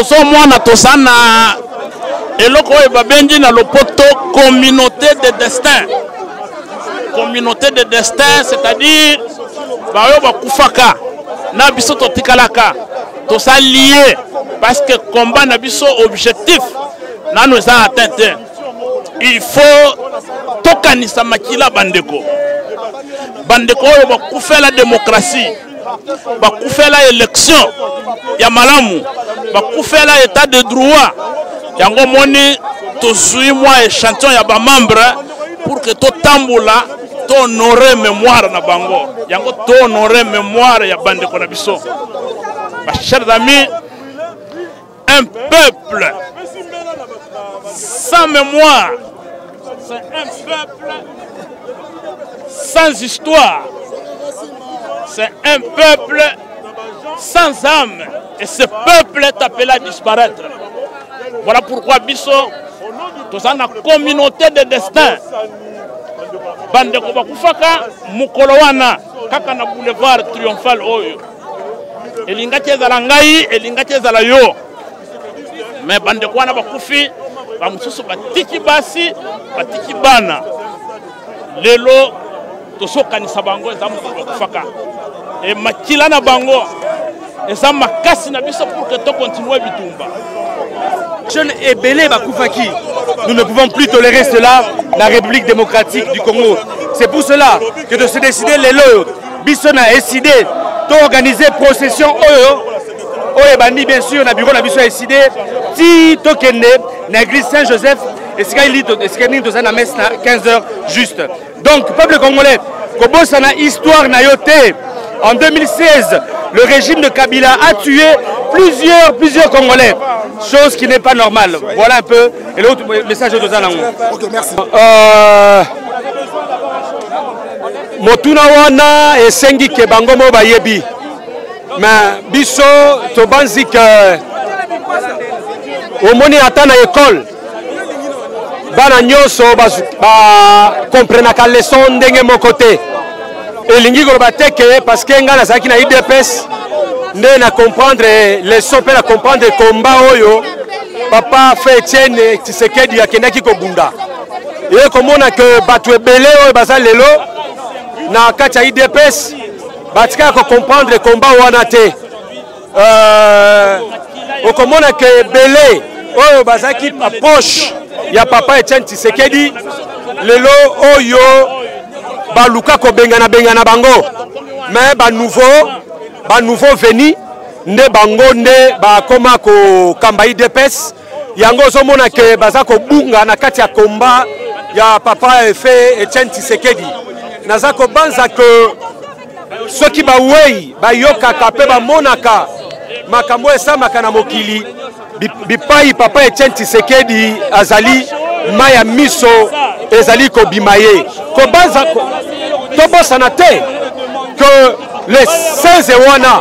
ozo mwana toza na eloko oyo babengi na lopoto communauté de destin communauté de destin c'est-à-dire baoyo bakufaka na biso totikalaka toza lie parce que combat na biso objectif nano eza atteint te il faut tokanisa makila bandeko bandeko oyo bakufela demokratie bakufela election ya malamu bakufela etat de droit yango moni tozwi mwa echantillon ya bamembre pour que totambola tohonore mémoire na bango yango tohonore mémoire ya bandeko na biso bachers amis Un peuple sans mémoire, c'est un peuple sans histoire, c'est un peuple sans âme. Et ce peuple est appelé à disparaître. Voilà pourquoi Bisso, tous dans la communauté de destin, bande de Kobakufaka, Mukolowana, kaka na boulevard triomphal oyo elingaki ezala ngai elingaki ezala yo me bandeko wana bakufi bamosusu batiki basi batiki bana lelo tozokanisa bango eza mokolo bakufaka e makila na bango eza makasi na biso pour que tokontinue bitumba jeune ebele bakufaki nous ne pouvons plus tolérer cela la république démocratique du congo c'est pour cela que de se décider lelo biso na eside to organiser procession oyo oyo ebandi bien sûr na bureau na biso ya eside ti tokende na église saint joseph esika esika nini tozali na messe na 15 heures juste donc peuple congolais kobosana histoire na yo te en 2016 le régime de kabila a tué plusieurs plusieurs congolais chose qui n'est pas normale voilà un peu et l'autre message oyo toza nango okay, merci. euh... motuna wana esengi ke bango mo bayebi me biso tobanzi ke omoni ata na ekole bana nyonso bakomprenaka ba leson ndenge moko te elingi koloba te ke parceke ngai nazalaki na idps nde na comprendre leson mpe na comprendre komba oyo papa fe etienne tisekedi akendaki kobunda eye komona ke bato ebele oyo baza lelo na kati ya idps batikala kocomprendre komba wana te euh, okomona ke ebele oyo bazalaki proche ya papa etienne tisekedi lelo oyo baluka kobengana bengana bango me banouveau banouveau veni nde bango nde bakoma kokamba idps yango ozomona ke baza kobunga na kati ya komba ya papa efe etienne tisekedi naza kobanza ke soki bawei bayokaka mpe bamonaka makambo oyo esamaka na mokili bipai papa etienne tisekedi azali mai ya miso ezali kobima ye kobanza tobosana te ke le 16 wana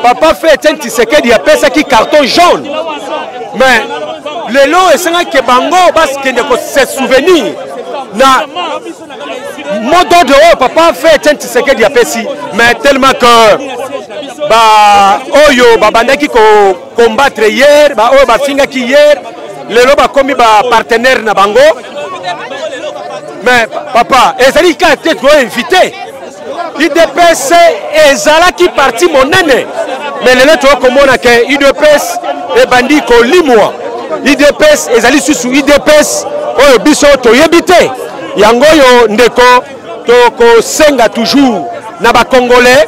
papa fe etienne tisekedi apesaki carton jaune mais lelo esengaki bango bakende kose souvenir na mot d'ordre oyo papa fe etienne tisekedi apesi mais tellement que baoyo babandaki kocombattre hier baoyo bafingaki hier lelo bakomi bapartenaire na bango mais papa ezali kaka te toinvite udps ezalaki parti monene me lelo toyoi komona ke udps ebandi kolimwa udps ezali susu udps oyo biso toyebi te yango oyo ndeko tokosenga toujours na bacongolais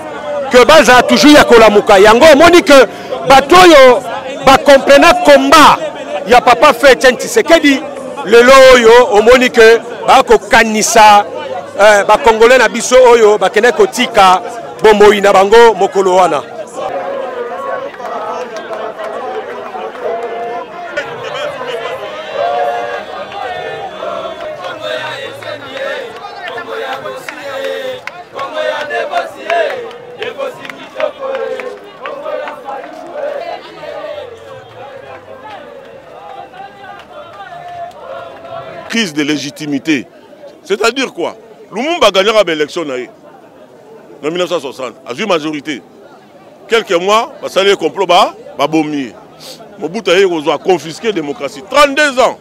ke bazala toujours ya kolamuka yango omoni ke bato oyo bacomprena combat ya papa fetien tshisekedi lelo oyo omoni ke bakokanisa eh, bakongole na biso oyo bakendaki kotika bomoi na bango mokolo wana crise de légitimité c'est à dire quoi lumumba agagnaka baélection na ye na 1960 azwi majorité quelques mois basali ye complot babomi ye mobutu ayei kozwa confisqué démocratie 32 ans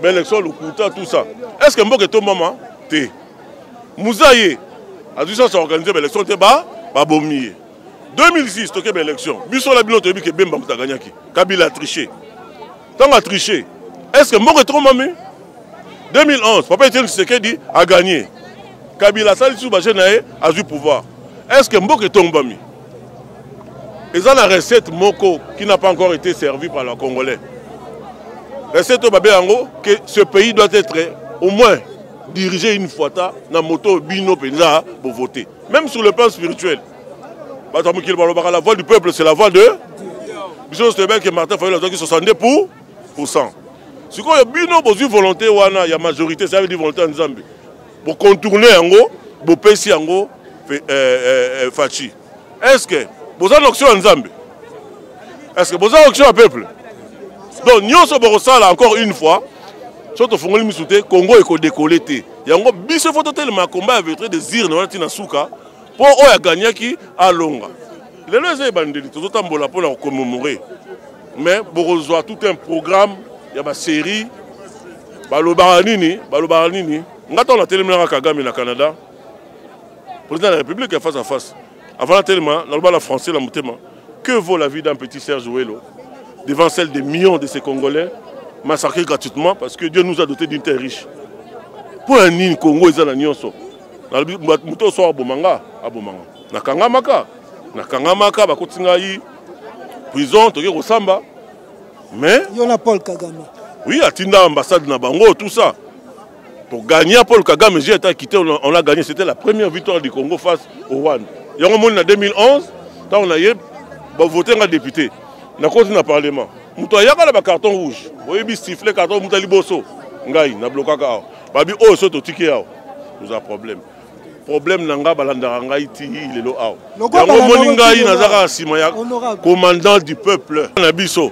baélection lokuta tout ça est ce que mboka etombama te muza ye azwi sasa organise baélection te babomi ye 2006 tokeba élection biso na bino toyebi ke bemba moto aganyaki kabila atriche ntango atriche est ce que mboka etromami 2011 papa etienne tshisekedi aganye kabila asali lisusu baje na ye azwi pouvoir est ce que mboka etombami eza na recette moko qui n'a pas encore été servi par la congolais recette oyo babe yango que ce pays doit être au moins dirige une fois ta na moto oyo bino mpenza bovote Même sur le plan spirituel, bato ya mokili balobaka la voix du peuple c'est la voix de biso nyonso toyebi ke martin fayulu azwaki 62 pour pourcent sikoyo bino bozwi volonté wana ya majorité ça veut dire volonté ya nzambe bocontourne yango bopesi yango euh, euh, euh, faci est ce que boza na option ya nzambe est ce que boza option ya peuple donc nyonso bokosala encore une fois soki tofungoli misu te congo ekodekole te yango biso fo totelema komba ya vetre des urnes wana ntina suka mpo oyo aganyaki alonga lelo eza ebandeli tozotambola mpo na kokomemore mais bokozwa tout un programme ya baserie balobaka nini balobaka nini nga ntango natelemelaka kagame na canada président ya république ya face à face Avant tellement, dans le bas la français, la mutema. Que vaut la vie d'un petit Serge Ouello devant celle des millions de ces Congolais massacrés gratuitement parce que Dieu nous a dotés d'une terre riche. Pour un nini Congo, ils ont la nyonso. Muto soit abomanga, abomanga. Nakangamaka, nakangamaka, bakotingai prison, toke kosamba. Mais. Yona Paul Kagame. Oui, atinda ambassade na bango, tout ça. To gagner Paul Kagame j'ai été quitté on a gagné c'était la première victoire du Congo face au Rwanda. Yango moni na 2011 tant on a yé ba voter nga député na côté na parlement. Muto ayaka na ba carton rouge. Oyebi sifflet carton muta liboso. Ngai na blokaka awa. Babi oyo oh, so to tiki awa. Nous a problème. problème na ngai balandaka ngai ti lelo awa yango omoni ngai naza kaka nsima ya commandant du peuple na biso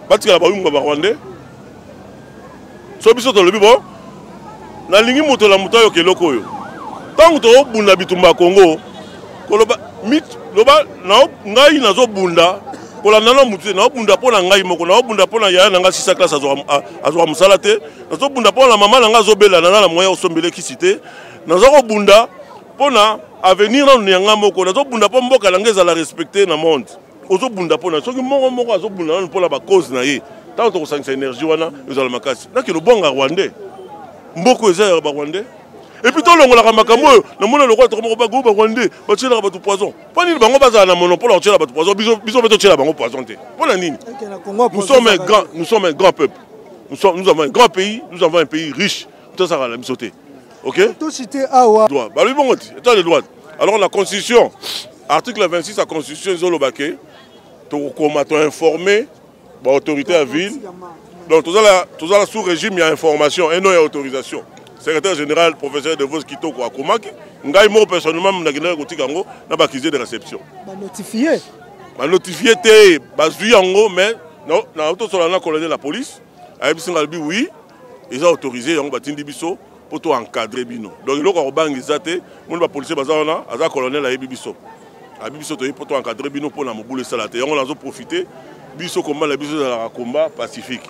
batikala bayumba barwandais so biso tolobi bo nalingi moto na moto ayoka eloko oyo ntango tokobunda bitumba ya kongo koloba loba ngai nazobunda kolanda na motu te naobunda mpo na ngai moko naobunda mpo na yaya na ngai sisa classe azwaka mosala te nazobunda mpo na mama na ngai azobela na na moyen osombele kisi te naza kobunda mpo na avenir nanu na ngai moko nazobunda mpo mboka na ngai ezala respecte na monde ozobunda mpo na soki moko moko azobunda nanu mpo na bacause na ye ntango tokosangisa énergie wana ezala makasi nakende obwanga rwandais mboko eza ya barwandais epuis tolongolaka makambo oyo namona lokola tokomoko bago barwandais batyelaka bato poison mpo nini bango bazala na monopole ya kotyela bato poison biso mpe totyela bango poison te mpo na nini nous sommes un grand peuple nous avons un grand pays nous avons un pays riche tosakala na biso te ok tocite awa droit balobi bongo ti etat de droit alors la constitution article 26 ya constitution ezoloba ke tokokoma toinforme baautorité ya ville donc tozala tozala sous régime ya information et non ya autorisation secrétaire général professeur de vos kitoko akomaki ngai moko personnellement nakendaki kotika yango na bakisie de réception banotifie banotifie te bazwi yango mais naotosola na colonel ya police ayebisi ngai alobi oui eza autorise yango batindi biso mpo to encadre bino donc eloko ya kobanga eza te moni bapolisier baza wana aza colonel ayebi biso abi biso toyebi mpo to encadre bino mpo na mobulu esala te yango nazo profite biso komba na biso ezalaka komba pacifique